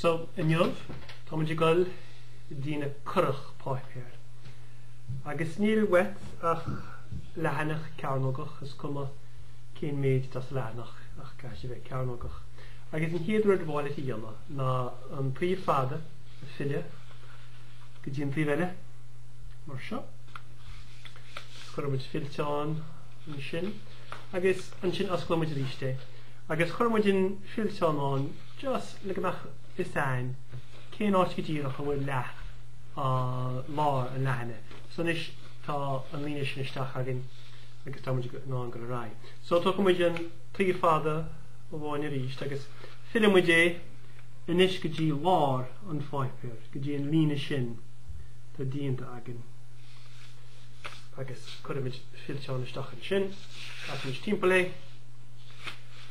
So, inniu táimid ag goil ag déanamh curach páipéir. Agus níl uait ach leathanach cearnógach, is cuma cén méid atá sa leathanach ach caithfidh sé bheith cearnógach. Agus an chéad rud ab fhearr leat a dhéanamh ná an taobh fada a fhilleadh go dtí an taobh eile, mar seo. Is cuirfidh muid fillteán. sin agus ansin osclóidh muid arís é agus cuirfidh muid an fillteán ann just le go mbeadh fhios a'inn cén áit go díreach a bhfuil lár an leathanaigh so anois tá an líne sin isteach againn agus tá muid in ann dul ar aghaidh so tógfaidh muid an taobh fada amháin arís agus fillfidh muid é anois go dtí lár an pháipéir go dtí an líne sin atá déanta againn. agus cuirfimid fillteán isteach ansin, casfaimid timpeall é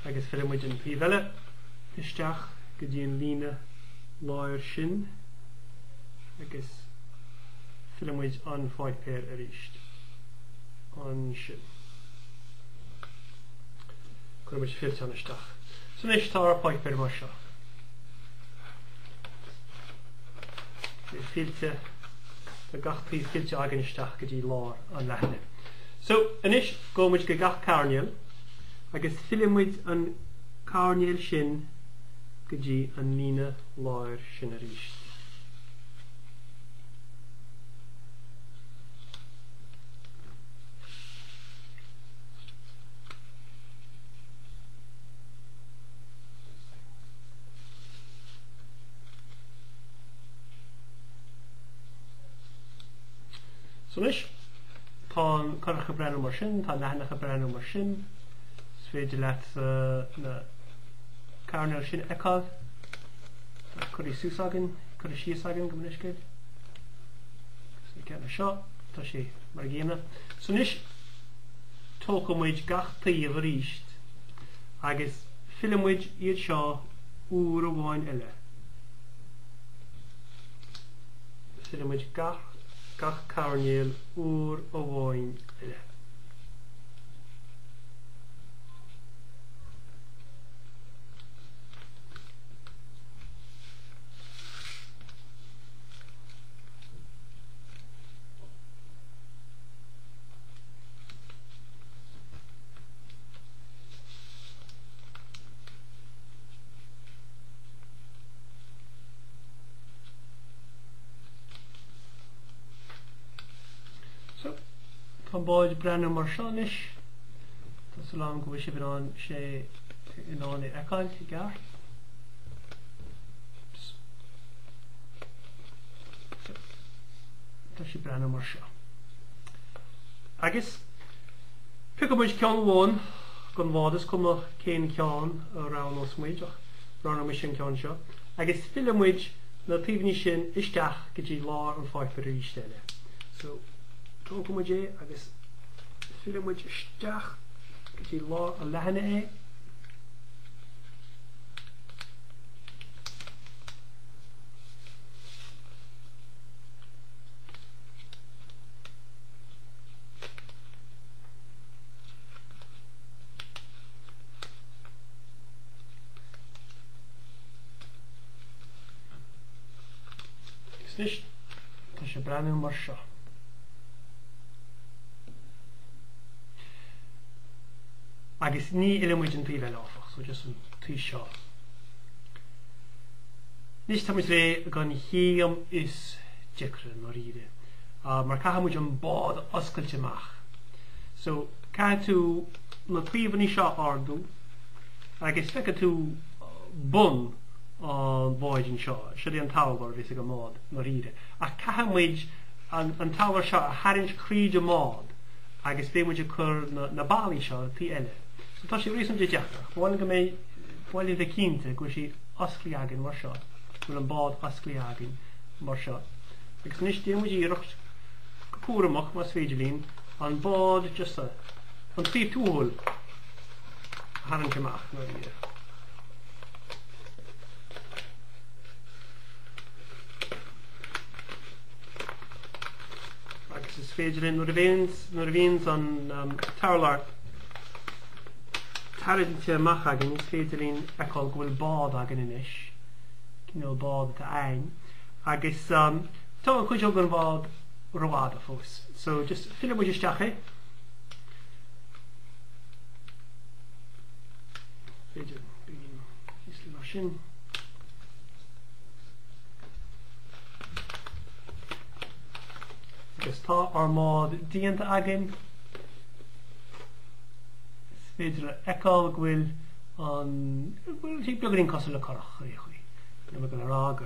agus fillfimid an taobh eile isteach go dtí an líne láir sin agus fillfimid an páipéar arís ansin. Cuirfimid fillteán isteach. So anois tá ár bpáipéar mar seo. Fillte. Tá gach taobh fillte againn isteach go dtí lár an leathanaigh. So, anois gabhfaidh muid go gach coirnéal agus fillfidh muid an coirnéal sin go dtí an líne láir sin arís. So anois, tá an curach ag breathnú mar sin, tá an leathanach ag breathnú mar sin. Is féidir leat na coirnéil sin a fheiceáil. Tá curtha suas againn, curtha síos againn gabh mo leithscéal. Is na ceanna seo, tá sé mar a chéanna. So anois, tógfaidh muid gach taobh arís agus fillfidh muid iad seo uair amháin eile. Fillfidh muid gach gach coirnéal uair amháin eile. So tá bád breathnú mar seo anois. Tá súil agam go bhfuil sibh in ann é in ann a fheiceáil i gceart. Tá sé breathnú mar seo. Agus piocfaidh muid ceann amháin gon bhád is cuma cén ceann a roghnós muid ach roghnóidh mise an ceann seo, agus fillfidh muid na taobhanna sin isteach go dtí lár an pháipéir arís eile. So, tógfaidh muid é agus fillfidh muid isteach go dtí lár an leathana é. Anois tá sé breathnú mar seo. Agus ní fhilleann muid an taobh eile áfach, so just an taobh seo. Anois tá muid réidh gon chéim is deacra i ndáiríre. Uh, mar caithfidh muid an bád a oscailt amach. So caithfidh tú na taobhanna seo ardú. agus feicfidh tú bun an bháid anseo, siod é an t-urlár a bheas ag an mbád ndáiríre. Ach caithfidh muid an, an t-urlár seo a tharraingt thríd an mbád agus beidh muid ag cur na, na ballaí seo an tslí eile. So tá sé réasúnta deacair. Ba mhaith, ba mhaith linn bheith cinnte go bhfuil sí osclaí againn mar seo, bhfuil an bád osclaí againn mar seo. Agus anois déan muid iarracht go cúramach más féidir linn an bád just an taobh túhol tharraingt amach mar bhí a. agus is féidir linn nuair a bhíonn nuair a bhíonn an um, t-urlár tarraingthe amach againn is féidir linn fheiceáil go bhfuil bád againn anois cineál bád atá ann agus um, tá an chuid gon bhád rófhada fós so just fillfidh muid isteach é B'fhéidir píosa eile mar sin. Agus tá ár mbád déanta againn is féidir a fheiceáil go bhfuil an bhfuil sí beagáinín cosúil le curach ar chaoi. Níl mé ag rá go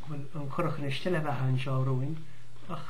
bhfuil an curach ina steillbheatha anseo romhainn ach